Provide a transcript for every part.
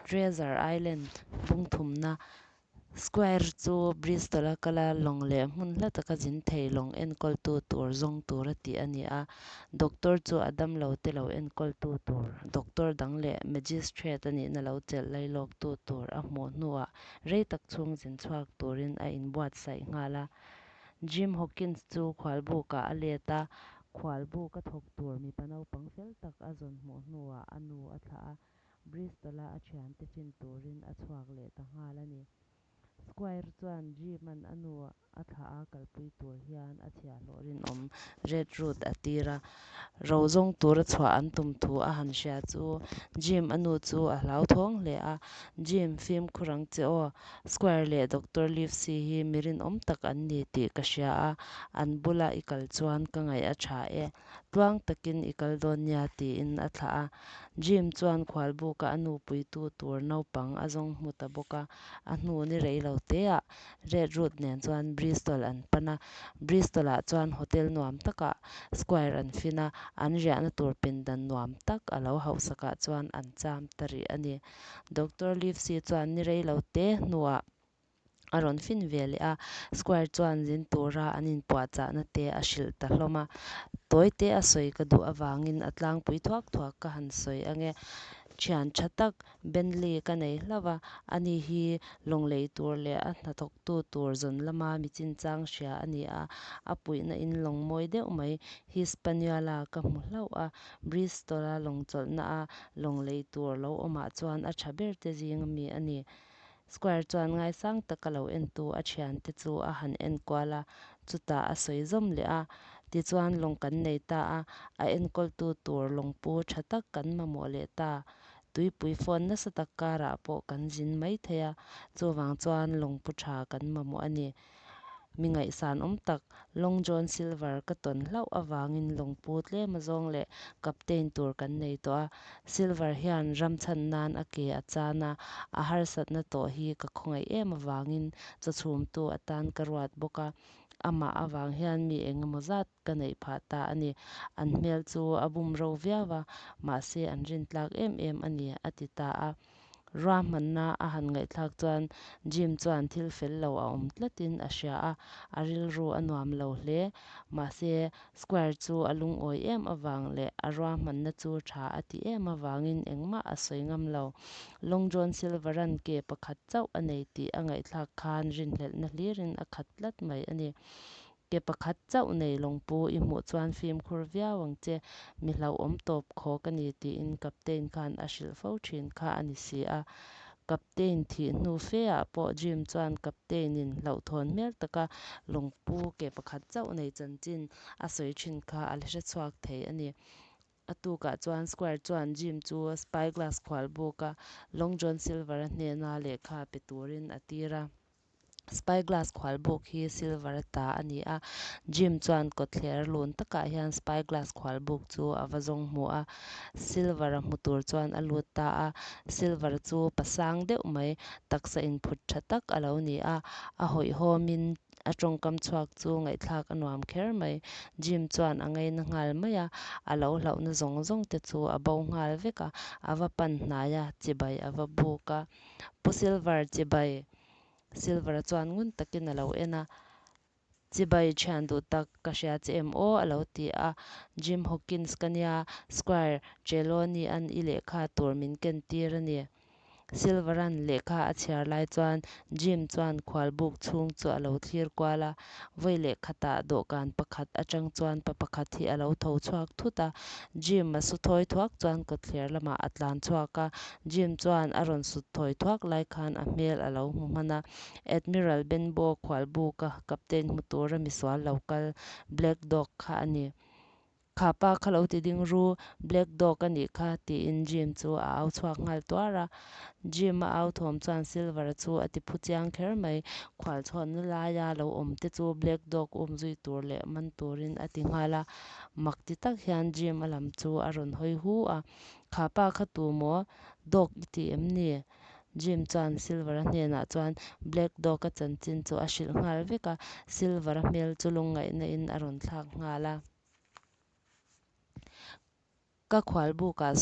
Treasure Island pungthumna Square chu Bristol a kal a, lawng leh hmun hla taka zin thei lawng enkawltu tur zawng tur a tih a ni a. Doctor chu a damlo te lo enkawltu tur Doctor dang leh Magistrate a nihna lo chelh lai lawktu tur a hmuh hnuah rei tak chhungzin chhuak turin a inbuatsaih nghal a. Jim Hawkins chu khualbukah a let a, khualbuk a thawk tur mipa naupang fel tak a zawn hmuh hnuah a nu a thlah a, Bristol-a a thian tiffin turin a chhuak leh ta nghal a ni. Squire chuan Jim-a'n a nu a thlah a kalpui tur hian a chhiahhlawh rinawm Red Route a tir a. Rozawng tura chhuah an tum thu a han hria chu Jim-a nu chu a hlau thawng hle a, Jim, fimkhur ang che aw, Squire leh Doctor Livesey hi mi rinawm tak an ni tih ka hria a, an bula i kal chuan ka ngaih a tha e, tluang takin i kal dawn nia tiin a thlah a. Jim chuan khualbuka a nupuitu tur naupang a zawng hmu ta bawk a, a hnun i rei lo te ah Red Route nen chuan Bristol an pan a, Bristol-ah chuan hotel nuam takah Squire an fin a, an riahna tur pindan nuam tak a lo hauhsakah chuan an cham ta rih a ni. Doctor Livesey chuan ni rei lo te hnuah a rawn fin ve leh a, Squire chuan zin tura an inpuahchahna te a hrilh ta hlawm a, Tawi te a sawi ka duh avangin a tlangpui thuak thuak ka han sawi ange, thian tha tak Bentley ka nei hlauh a, a ni hi lawnglei tur leh a hnathawktu tur zawn lama mi chinchang hria a ni a, a puihna in lawng mawi deuh mai. Hispaniola ka hmu hlauh a, Bristol-a lawng chawlhna a lawnglei tur lo awmah chuan a tha ber te zing a mi a ni. Squire chuan ngaisang taka lo entu a thian te chu a han en kual a, chutah a sawi zawm leh a, tichuan lawng kan nei ta a, a enkawltu tur lawng pu tha tak kan mamawh leh ta. Tuipui phone nasa tak karah pawh kan zin maithei a, chuvang chuan lawngpu tha kan mamawh a ni. Mi ngaihsan awm tak Long John Silver ka tawn hlauh avangin lawngpu tlema zawng leh captain tur kan nei tawh a. Silver hian ram chhan nan a ke a chan a, a harsatna tawh hi ka khawngaih em avangin chawchhumtu atan ka ruat bawk a, amah avang hian mi engemaw zat Ka neih phah ta a ni. An hmel chu a bum ro viau a, mahse an rin tlak em em a ni, a ti ta a. Ruahmanna a han ngaihthlak chuan Jim chuan thil fel lo a awm tlatin a hria a, a rilru a nuam lo hle. Mahse, Squire chu a lungawi em avang leh a ruahmanna chu tha a ti em avangin engmah a sawi ngam lo. Long John Silveran ke pakhat chauh a nei tih a ngaihthlak khan rinhlelhna hlirin a khat tlat mai a ni. Ke pakhat chauh nei lawngpu i hmuh chuan fimkhur viau ang che, mi hlauh awm tawp khaw ka ni tiin captain khan a hrilh fo thin kha a ni si a. Captain thih hnu fe ah pawh Jim chuan captain in hlauhthawn hmel tak a lawngpu ke pakhat chauh nei chanchin a sawi thin kha a la hre chhuak thei a ni. A tukah chuan Squire chuan Jim chu spyglass khual buk a Long John Silver-a hnena lehkha pe turin a tir a. Spy glass khual buk hi silver a ta a ni a. Jim chuan kawtthler lun takah hian spy glass khual buk chu a va zawng hmu a. Silver a hmu tur chuan a lut ta a. Silver chu pasang deuh mai, taksa inphut tha tak a lo ni a. A hawihhawm in a tawngkam chhuak chu ngaihthlak a nuam kher mai. Jim chuan a ngaina nghal mai a. A lo hlauhna zawng zawng te chu a bo nghal vek a. A va pan hnai a, chibai a va buk a. Pu Silver chibai Silver chuan ngun takin a lo en a, Chibai thian duh tak ka hria che em aw? a lo ti a, Jim Hawkins ka nia, Squire Trelawney-a'n i lehkha tur min kentir a ni. Silver-a'n lehkha a chhiar lai chuan Jim chuan khualbuk chhung chu a lo thlir kual a, Vawi leh khatah dawhkan pakhat atang chuan pa pakhat hi a lo tho chhuak thut a. Jim a su thawi thuak chuan kawtthler lamah a tlan chhuak a. Jim chuan a rawn sut thawi thuak lai khan a hmel a lo hmu hman a. Admiral Benbow khualbuka, captain hmu tura misual lo kal, Black Dog kha a ni. Kha pa kha lo ti ding ru, black dog a nih kha, tiin Jim chu a au chhuak nghal tuar a. Jim a au thawm chuan Silver chu a ti phu chiang kher mai. Khual chhawn na laia lo awm te chu black dog um zui tur leh man turin a ti nghal a. Mak ti tak hian Jim a lam chu a rawn hawi hu a. Kha pa kha tu maw? Dog i ti em ni? Jim chuan Silver a hnenah chuan Black Dog a chanchin chu a hrilh nghal vek a, Silver a hmel chu lungngaihnain a rawn thlak nghal a. Ka khual bukah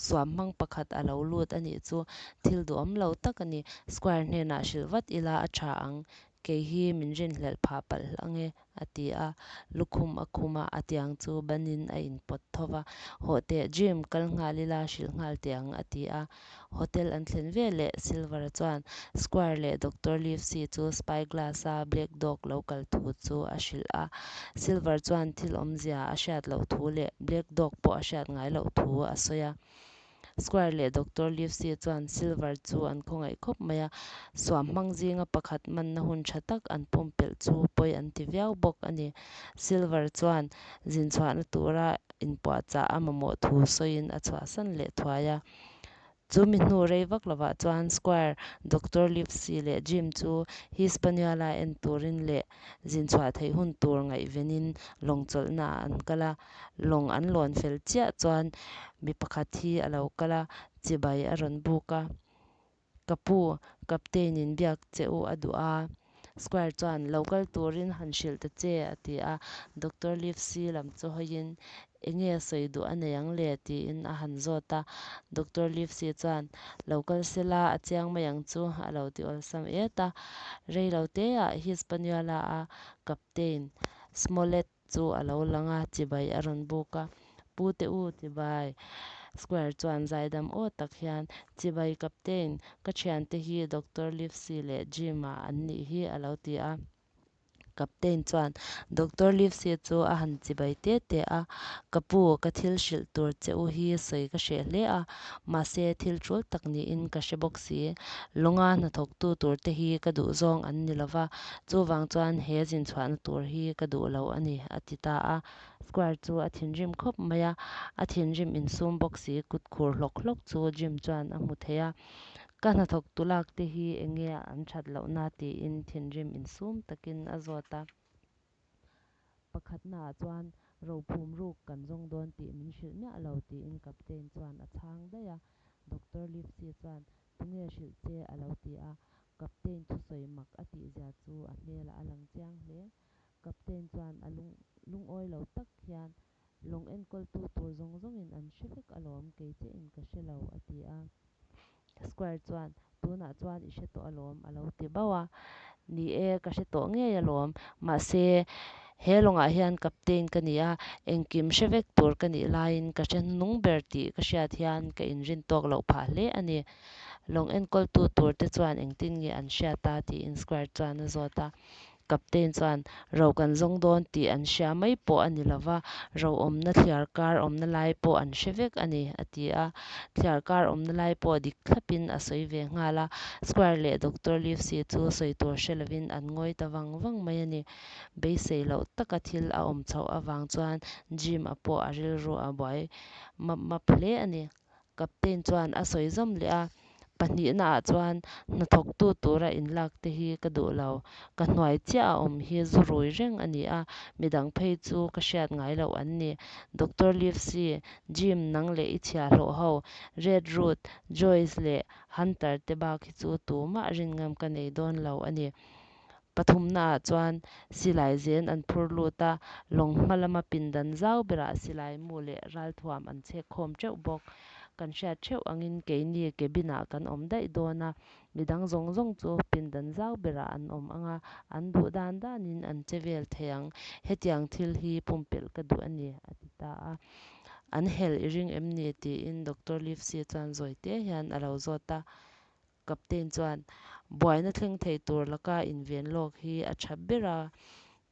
suam hmang pakhat a lo lut a nih chu, thil duhawm lo tak a ni. Squire hnenah hrilh vat ila a tha ang, Kei hi min rinhlelh phah palh ang e, a ti a. Lukhum a khum a, a tiang chu banin a inpawt tho va. Haw teh Jim, kal nghal ila hrilh nghal teh ang, a ti a. Hotel an thlen ve leh Silver-a chuan Squire leh Doctor Livesey chu Spy Glass-a Black Dog lo kal thu chu a hrilh a. Silver chuan thil awmzia a hriat loh thu leh Black Dog pawh a hriat ngai loh thu a sawi a. Squire leh Doctor Livesey chuan Silver chu an khawngaih khawp mai a, suam hmang zinga pakhat manna hun tha tak an pumpelh chu pawi an ti viau bawk a ni. Silver chuan zin chhuahna tura inpuah chah a mamawh thu sawiin a chhuahsan leh thuai a. Chu mi hnu rei vak lovah chuan Squire, Doctor Livesey leh Jim chu Hispaniola en turin leh zin chhuah theih hun tur ngaihvenin lawng chawlhnaah an kal a. Lawng an lawn fel chiah chuan mi pakhat hi a lo kal a, chibai a rawn buk a, Ka pu, Captain in biak che u a duh a. Squire chuan, Lo kal turin han hrilh ta che a ti a. Doctor Livesey lam chu hawiin, Enge sawi duh a nei ang le tiin a han zawt a. Doctor Livesey chuan, Lo kal se la, a chiang mai ang chu a lo ti awlsam et a. Rei lo te ah hi Spaniard-a a Captain, Smollett, chu a lo lang a, Chibai a rawn buk a, Pu te u, Chibai Square chuan zaidam aw tak hian, Chibai Captain, ka thiante hi Doctor Livesey leh Jim-a an nih hi a lo ti a. Captain chuan Doctor Livesey chu a han chibai tê tê a, Ka pu, ka thil hrilh tur che u hi sawi ka hreh hle a, mahse thil ṭul tak niin ka hre bawk si. Lawnga hnathawktu tur te hi ka duhzawng an ni lo va, Chuvang chuan he zin chhuahna tur hi ka duh lo a ni, a ti ta a. Square chu a thinrim khawp mai a, a thinrim insum bawk si kut khur hlawk hlawk chu Jim chuan a hmu thei a. Ka hnathawk tulak te hi eng nge an that loh na tiin thinrim insum takin a zawt a. Pakhat naah chuan rophum ruk kan zawng dawn tih min hrilh miah lo tiin Captain chuan a chhang daih a. Doctor Livesey chuan Pu nge a hrilh che? a lo ti a, Captain thusawi mak a tih zia chu a hmelah a lang chiang hle. Captain chuan a lung lungawi lo tak hian, Lawng enkawltu tur zawng zawngin an hre vek alawm, kei che in ka hre lo, a ti a. Squire chuan, Tunah chuan i hre tawh alawm, a lo ti bauh a. Ni e, ka hre tawh ngei alawm. Mahse, he lawngah hian captain ka ni a, engkim hre vek tur ka nih laiin ka hre hnung ber tih ka hriat hian ka inrin tawk loh phah hle a ni. Lawng enkawltu turte chuan engtin nge an hriat a? tiin Squire chuan a zawt a. Captain chuan Ro kan zawng dawn tih an hria mai pawh a ni lo va, ro awmna thliar kar awmna lai pawh an hre vek a ni, a ti a. Thliar kar awmna lai pawh dik thlapin a sawi ve nghal a, Squire leh Doctor Livesey chu sawi tur hre lovin an ngawi ta vang vang mai a ni. Beisei loh taka thil a awm chhoh avang chuan Jim-a pawh a rilru a buai map map hle a ni. Captain chuan a sawi zawm leh a, Pahnihna ah chuan hnathawktu tura in lak te hi ka duh lo. Ka hnuai chiah a awm hi zu rui reng a ni a, midang phei chu ka hriat ngai loh an ni. Doctor Livesey, Jim, nang leh i chhia hlawh ho. Red Root, Joyce leh Hunter te bak hi chu tumah rin ngam ka nei dawn lo a ni. Pathumnaah chuan silai zen an phur lut a, lawng hma lama pindan zau berah silai mu leh ralthuam an chhek khawm teuh bawk. Kan hriat theuh angin keini cabin-ah kan awm daih dawn a, midang zawng zawng chu pindan zau berah an awm ang a, an duh dan danin an che vel thei ang. Hetiang thil hi pumpelh ka duh a ni, a ti ta a. An hel i ring em ni? tiin Doctor Livesey chuan zawite hian a lo zawt a, Captain chuan, Buaina thleng thei tur laka inven lawk hi a tha ber a,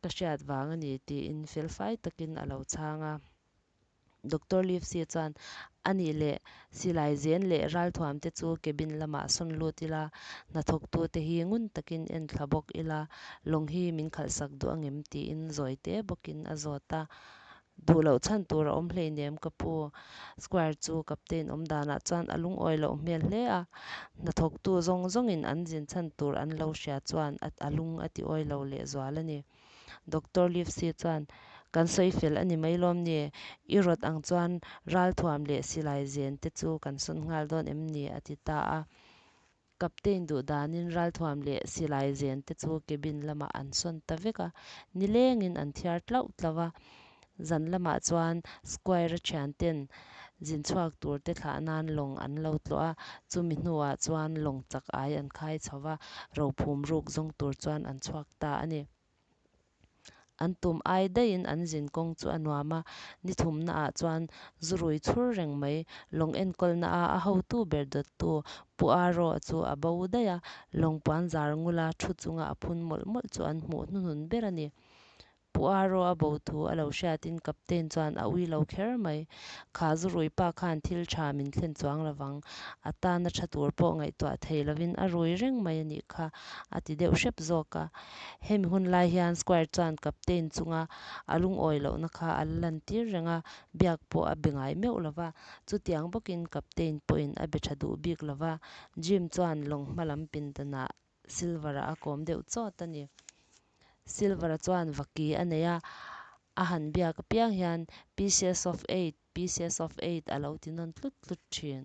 ka hriat vang a ni, tiin felfai takin a lo chhang a. Doctor Livesey chuan, A nih leh, silai zen leh ralthuam te chu cabin lamah sawn lut ila, hnathawktu te hi ngun takin en thla bawk ila, lawng hi min khalhsak duh angem, tiin zawite bawkin a zawt a. Duh loh chhan tur a awm hlei nem ka pu. Square chu captain awm danah chuan a lungawi loh hmel hle a, hnathawktu zawng zawngin an zin chhan tur an lo hria chuan a lung a ti awi lo leh zual a ni. Doctor Livesey chuan, Kan sawi fel a ni mai lawm ni? I rawt ang chuan ralthuam leh silai zen te chu kan sawn nghal dawn em ni? a ti ta a. Captain duhdanin ralthuam leh silai zen te chu cabin lamah an sawn ta vek a, nilengin an thiar tlauh tlauh a. Zan lamah chuan Squire-a thian ten zin chhuak tur te thlah nan lawng an lo tluah a, chumi hnuah chuan lawng chak ai an khai chho va, rophum ruk zawng tur chuan an chhuak ta a ni. an tum ai daihin an zin kawng chu a nuam a, ni thumna ah chuan zu rui chhur reng mai. Lawng enkawlna a a hotu ber dawt tu Pu Aa Raw chu a bo daih a, lawng puan zar ngul a thu chunga a phun mawlh mawlh chu an hmuh hnu hnun ber a ni. Pu Aa Raw a bo thu a lo hriat in captain chuan a uilo kher mai. Kha zu rui pa khan thil tha min thlen chuang lo vang, a tana tha tur pawh ngaihtuah thei lo in a rui reng mai a nih kha a ti deuh hrep zawk a. Hemi hun lai hian Squire chuan captain chunga a lungawi lohna kha a la lan tir reng a, biak pawh a be ngai meuh lo va. Chutiang bawkin captain pawhin a be tha duh bik lo va. Jim chuan lawng hma lam pindanah Silver-a a kawm deuh chawt a ni. Silver-a chuan vaki a nei a, a han biak apiang hian pieces of eight, pieces of eight a lo ti nawn tlut tlut thin.